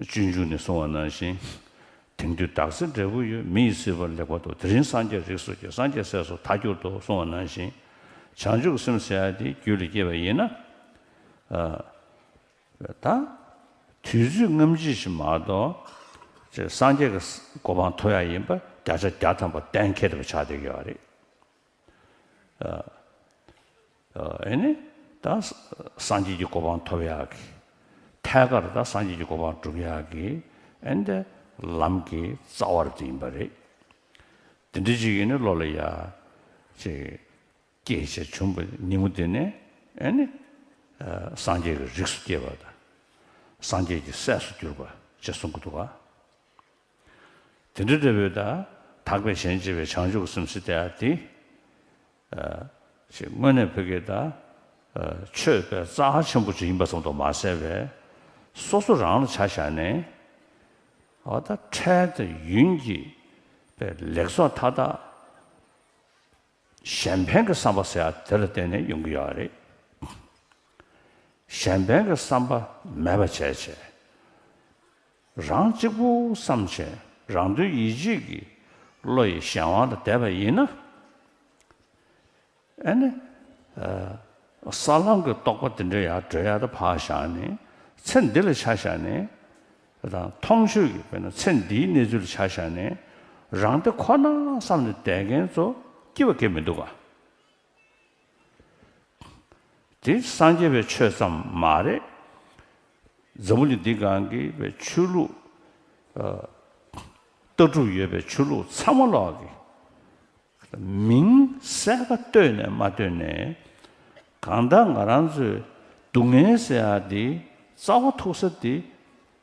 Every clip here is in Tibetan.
སྤྱོད་འཇུག་ནས་གསུང་བ་ནང་བཞིན། དེང་དུས་བདག་སྲིད་འབྲས་བུ་ཡོད་མི་ཡི་སྲིད་པར་ལེགས་པར་དུ་དེ་རིང་སངས་རྒྱས་རིགས་སོ་སྐྱེ་སངས་རྒྱས་སྲས་སུ་ཐ་གྱུར་ཏོ་གསུང་བ་ནང་བཞིན། བྱང་ཆུབ་སེམས་ཟེར་བ་དེ་རྒྱུད་ལས་སྐྱེས་པ་ཡིན་ན། ད། དུས་ཚོད་རྔམ་བརྗིད་ཞིག་མ་གཏོགས། སངས་རྒྱས་ཀྱི་གོ་འཕང་ཐོབ་ཡག་ཡིན་པ་བརྒྱ་ཆ་བརྒྱ་ཐམ་པ་གཏན་འཁེལ་བྱ་བསྡད་ཀྱི་བ་རེད། ཨེ་ནི། ད་སངས་རྒྱས་ཀྱི་གོ་འཕང་ཐོབ་ཡག་གི། ཐད་ཀར་ད་སངས་རྒྱས་ཀྱི་གོ་འཕང་བསྒྲུབ་ཡག་གི། ཨེ་འདི་ལམ་གྱི་རྩ་བར་འདི་ཡིན་པ་རེད། དེ་འདྲ་ཅིག་ཡིན་ནི་བློ་ལ་ཡ། ཅེས་སྐྱེས་བྱས་འབྱུང་པོ་ཉིན་མོ་དེ་ནི། ཨེ་ནི། སངས་རྒྱས་ཀྱི་རིགས་སུ་སྐྱེས་པ་དང། སངས་རྒྱས་ཀྱི་སྲས་སུ་གྱུར་པ་ཅེས་གསུང་གི་འདུག་ག། དེ་འདྲ་འབྲས་བུའི་བདག། དག་པའི་གཞན་གཅེས་པའི་བྱང་ཆུབ་སེམས་སེ་སྟེ་ཨ་ཏི། ཞེས་དངོས་གནས་བོད་ཀྱི་བདག། ཆོས་པའི་རྩ་ཧ་ཆེན་པོ་ཅིག་ཡིན་པ་ཙམ་དུ་མ་ཟད་པས། སོ་སོ་རང་ལ་བྱ་བཞག་ནས། ཨོ་ད་འཕྲལ་དུ་ཡུན་གྱིས་པའི་ལེགས་ཚོགས་མཐའ་དག། གཞན་ཕན་གྱི་བསམ་པ་ཟེར་ཡ་དེ་ལ་བརྟེན་ནས་ཡོང་གི་ཡོད་པ་རེད། གཞན་ཕན་གྱི་བསམ་པ་མེད་པ་བྱས་བྱས། རང་གཅིག་པུ་བསམ་བྱའི་རང་དོན་ཡིད་བྱེད་ཀྱི་བློ་ཡི་གཞན་དབང་ལ་དད་པ་ཡིན་ན། ཨེ་ནས། ས་ལམ་གྱི་རྟོགས་པ་འདི་འདྲ་ཡར་བགྲོད་ཡར་དུ་བག་བཞག་ནས་ཚེ་འདི་ལ་ཆ་བཞག་ནས་དང་མཐོང་ཆོས་ཀྱི་དཔེར་ན་ཚེ་འདིའི་གནས་ཚུལ་ལ་ཆ་བཞག་ནས་རང་དེ་ཁོ་ན་བསམ་ནས་དད་མཁན་ཚོ་སྐྱིད་པ་སྐྱེ་མི་འདུག་ག། དེ་སངས་རྒྱས་པའི་ཆོས་ཙམ་མ་རེད། འཛམ་བུ་གླིང་འདི་གང་གི་བའི་ཆོས་ལུགས། ལྟ་གྲུབ་ཡོད་པའི་ཆོས་ལུགས་ཚང་མ་ལོག་གི། མིང་གསལ་ཁ་བཏོད་ནས་མ་བཏོད་ནས། གང་ལྟར་ང་རང་ཚོའི་སྡུག་བསྔལ་ཟེར་ཡ་འདི་རྩ་བ་ཐུག་ས་འདི།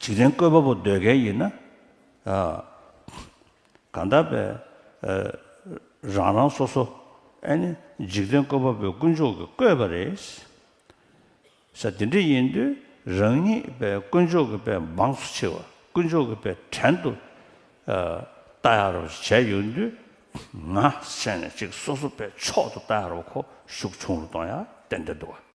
བྱེད་རིན་བཀོད་པ་པོ་སྡོད་མཁན་ཡིན་ན། གང་དག་པའི་རང་རང་སོ་སོ་ནི་འཇིག་རྟེན་བཀོད་པ་པོའི་དཀོན་མཆོག་གི་བཀོད་པ་རེད། ས་དེ་འདྲ་ཡིན་དུས་རང་ཉིད་པའི་དཀོན་མཆོག་གི་པའི་འབངས་སུ་ཆེ་བ་དཀོན་མཆོག་གི་པའི་བྲན་དུ་བལྟ་ཡ་རོགས་ཞེས་བྱས་ཡོད་དུས། ང་ཤེས་ནས་ཅིག་སོ་སོ་པའི་མཆོག་ཏུ་བལྟ་ཡ་རོགས་ཁོ་ཤུགས་ཆུང་རུ་གཏོང་ཡ་ཏན་ཏན་འདུག་ག།